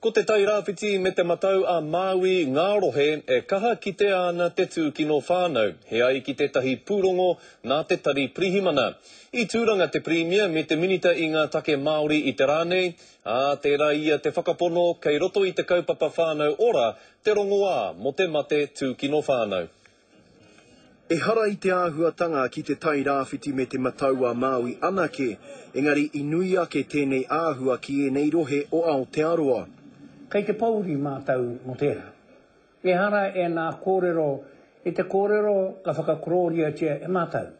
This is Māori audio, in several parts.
Ko Te Tai Rāwhiti me Te Matau a Māui ngā rohe e kaha kitea ana te tūkino whānau, he ai ki tētahi pūrongo nā te Tari Pirihimana. I Tūranga te Pirimia me te Minita i ngā Take Māori i te rā nei, ā, tērā ia te whakapono kei roto i te kaupapa Whānau Ora te rongoā mō te mate tūkino whānau. Ehara i te āhuatanga ki te Tai Rāwhiti me Te Matau-a-Māui anake, engari i nui ake tēnei āhua ki ēnei rohe o Aotearoa. Kei te pōuri mātou mō tērā. Ehara ēnā kōrero i te kōrero ka whakakorōriatia e mātou,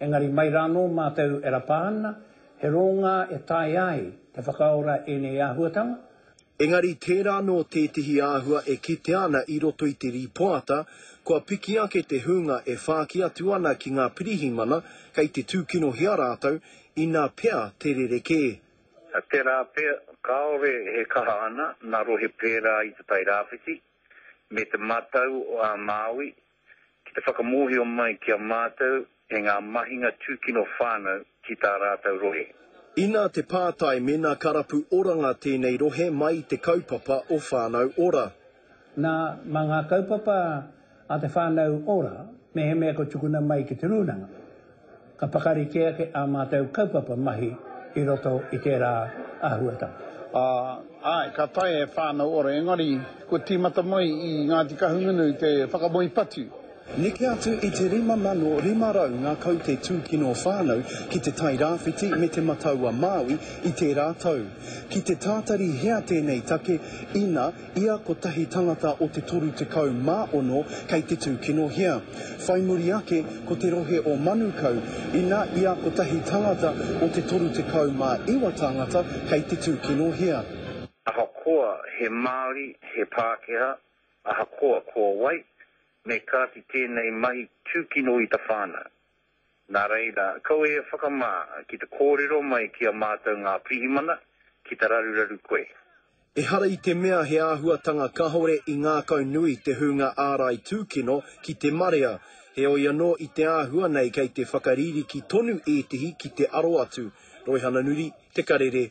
engari mai rānō mātou e rapa ana, he rōngā e taea ai te whakaora ēnei āhuatanga, Engari tērā anō tētehi āhua e kitea ana i roto i te rīpoata, kua piki ake te hūnga e whāki atu ana ki ngā pirihimana kei te tūkinohia rātou, inā pea te rerekē. Tērā pea, kāore he kaha ana ngā rohe pērā i Te Tai Rāwhiti me Te Matau o ā Māui ki te whakamōhio mai ki a mātou e ngā mahinga tūkino whānau ki tā rātou rohe. Inā te pātai mēnā ka rapu oranga tēnei rohe mai i te kaupapa o Whānau Ora. Nā, mā ngā kaupapa a te Whānau Ora mehemea kua tukuna mai ki te Rūnanga. Ka pakari kē ake ā mātou kaupapa mahi i roto i tērā āhuatanga. Āe, ka taea e Whānau Ora, engari kua tīmata mai i Ngāti Kahungunu te whakamoe patu. Neke atu i te 5,500 ngā kaute tūkino whānau ki te Tai Rāwhiti me Te Matau-a-Māui i tērā tau. Ki te tātari hea tēnei take, ina. Ia kotahi tangata o te toru tekau ma ono kei te tūkinohia. Whai muri ake ko te rohe o Manukau, ina ia kotahi tangata o te toru tekau ma iwa tāngata kei te tūkinohia. Ahakoa he Māori, he Pākehā, ahakoa ko wai, me kāti tēnei mahi tūkino i ta whānau. Nā reira, kaua e whakamā ki te kōrero mai ki a mātou ngā pirihimana ki te raruraru koe. Ehara i te mea he āhuatanga kahore i ngākau nui te hūnga ārai tūkino ki te marea, heoi anō i te āhua nei kei te whakaririki tonu ētehi ki te aro atu, Roihana Nuri, Te Karere,